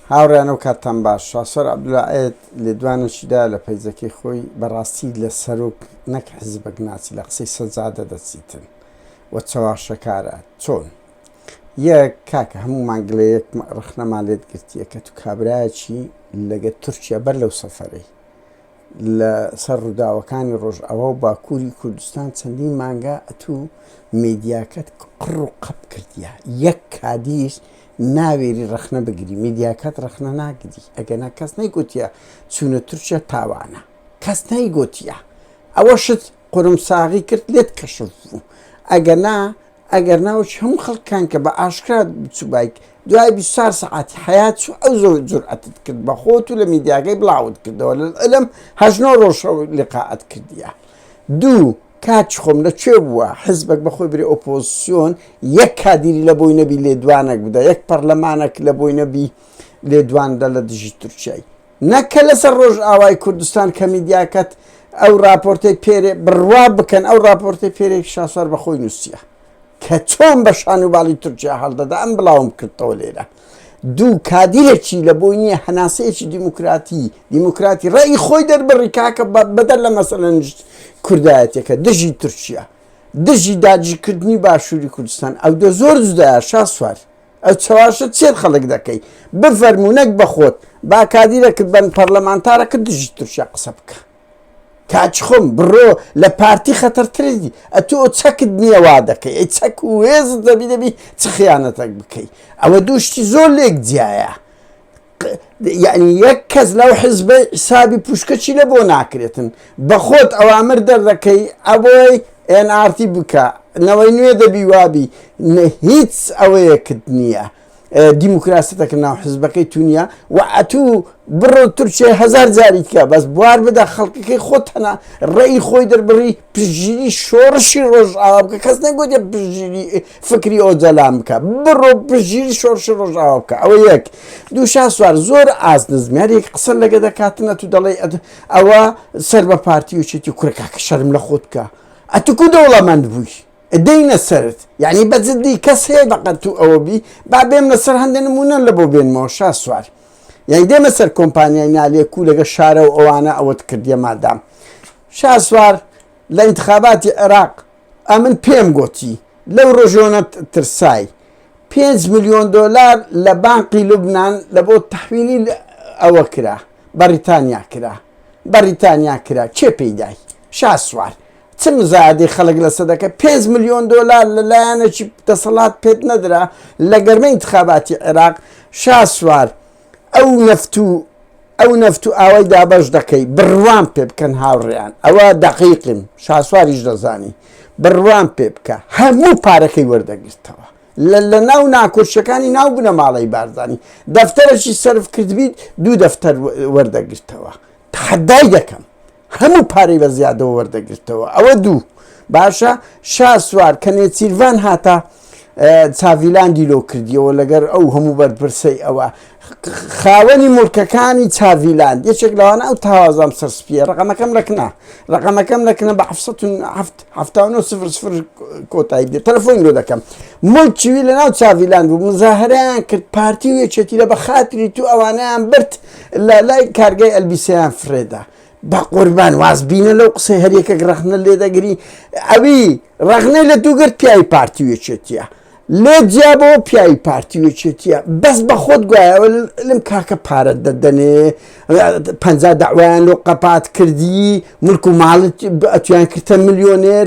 هاوڕێیان ئەو کاتتان باش. شاسوار عەبدولا عێد لێدوانێکی دایە لە پەیجەکەی خۆی، بەڕاستی لە سەرۆک نەک حیزبەک ناچی لە قسەی سەجادە دەچیتن و چەواشەکارە. چۆن؟ یەک، کاکە هەموومان گلەیەک ڕەخنەمان لێت گرتیە کە تو کابرایەکی لەگەر تورکیا بەر لەو سەفەرەی لە سەر ڕووداوەکانی ڕۆژئاوا و باکووری کوردستان چەندین مانگە ئەتوو میدیاکەت قڕ و قەپ کردیە یەک کادیر ناوێری ڕەخنە بگری میدیاکەت ڕەخنە ناگری ئەگەنا کەس نەیگوتیە چوونە تورکیا تاوانە کەس نەیگوتیە ئەوە شت قورمساغی کرد لێت کەشف بوو ئەگەنا ئەگەر نا وەکی هەموو خەڵکان کە بە ئاشکرا بچوبایت دوای بیست و چوار سەعاتی حەیات چوو ئەو زۆر جورئەتت کرد بە خۆت و لە میدیاکەی بڵاوت کردەوە لەلعلم هەشت نۆ ڕۆژ شەو لیقائت کردیە دوو کاکی خۆم لە کوێ بووە حزبەک بە خۆی برێ ئۆپۆزسیۆن یەک کادیری لە بۆی نەبی لێدوانەک بدە یەک پەڕلەمانەک لە بۆی نەبی لێدوان دە لە دژی تورکیای نەک کە لەسەر ڕۆژئاوای کوردستان کە میدیاکەت ئەو ڕاپۆرتەی پێرێ بڕوا بکەن ئەو ڕاپۆرتەی پێرێ شاسوار بە خۆی نووسیە کە چۆن بە شانوباڵی تورکیا هەڵدەدا ئەم بڵاوم کردەوە لێرە دوو کادیرێکی لە بۆی نییە هەناسەیەکی دیموکراتی دیموکراتی ڕێی خۆی دەربڕی کاکە بەدەر لە مەسەلە نشت کوردایەتەکە دژی تورکیا دژی داجیکردنی باشووری کوردستان ئەو دە زۆر جودایە شاسوار ئە چواشە چێت خەڵک دەکەی بفەرموو نەک بەخۆت با کادیرەکت بەن پەرلەمانتارەکە دژی تورکیا قسە بکە کاچ خۆم بڕۆ لە پارتی خەتەرترێتی ئەتۆ چەکت نییە وا دەکەی ئەی چەک و هێزت دەبی دەبی چ خیانەتەک بکەی ئەوە دووشتی زۆر لێک جیایە یعنی یەک کەس لەو حزبەی حسابی پوشکەچی لە بۆ ناکرێتن بەخۆت ئەوامر دەردەکەی ئەبۆی ئێنارتی بکە نەوەی نوێ دەبی وابی هیچ ئەوەیەکت نییە دیموکراسەتەکە ناو حزبەکەی تونیا و ئەتوو بڕۆ تورکیای هزار جاریکە بەس بوار بدە خەڵکەکەی خۆتەنا ڕێی خۆی دەربڕی پشگیری شۆڕشی ڕۆژئاوا بکە کەس نەگوتێ پشگیری فکری ئۆجەلان بکە بڕۆ پشگیری شۆڕشی ڕۆژئاوا بکە ئەوە یەک دوو شاسوار زۆر ئاست نزمیارێک قسە لەگە دەکاتنە تو دەڵێ ئەوە سەر بە پارتی و چێتی کورکە کە شەرم لە خۆت بکە ئەتوکو دەوڵەمەند بووی دەینە سرت یعنی بەجددی کەس هەیە بەقەت و ئەوە بی با بێم لەسەر هەندێک نمونە لە بۆ بێنمەوە شا سوار یعنی دێمە سەر کۆمپانیای نالێکو لەگە شارە و ئەوانە ئەوەت کردیە مادام شاسوار لە ئینتخاباتی عێراق ئەمن پێم گۆتی لەو رۆژۆنە ترسای پێنج ملیۆن دۆلار لە بانقی لوبنان لە بۆ تحویلی ئەوە کرا بەریتانیا کرا بەریتانیا کرا چێ پێیدای شاسوار چ مزادی خەڵک لە سەدەکە 5 میلیۆن دلار لە لایەنێکی دەسەڵات پێت نەدرا لە گەرمە انتخاباتی عێراق شاسوار ئەو نەفت و ئەو نەفت و ئاوای دابەش دەکەی بڕوام پێ بکەن هاوڕێیان ئەوە دەقیقیم شاسواریش دەزانی بڕوام پێ بکە هەموو پارەکەی وەردەگرتەوە لە ناو ناکۆشیەکانی ناو بنە ماڵی بارزانانی دەفتەرەشی سرف کردبیت دوو دەفتەر وەردەگرتەوە تحدای دەکەم هەموو پارەی بە زیادەوە وەردەگرتەوە ئەوە دوو باشە شاسوار کە نێچیرڤان هاتە چاڤیلاندی لۆ کردیەوە لەگەر ئەو هەموو بەرپرسەی ئەوە خاوەنی مورکەکانی چاڤیلاند یەکێک لەوانە ئەو تاوازام سەرسپیە ڕقەمەکەم لەکنە ڕقەمەکەم لەکنە بە کۆتایی بێت تەلفۆن لۆ دەکەم ملکیوی لە ناو چاڤیلاند و مزاهریان کرد پارتی و یەکێتی لە بە خاتری تو ئەوانیان برد لە لای کارگای ئەلبیسەیان فرێدا. بەقوربان واز بینە لەو قسەی هەر یەکەک ڕەخنە لێ دەگری ئەوی ڕەخنەی لە دوو گرت پیاوی پارتی وێچێتیە لێ جیابەوە پیاوی پارتی وێچێتیە بەس بە خۆت گوایەوە لەم کاکە پارە دەدەنێ پ داوایان لۆ قەپات کردی ملک و ماڵت ئەتویان کردتە ملیۆنێر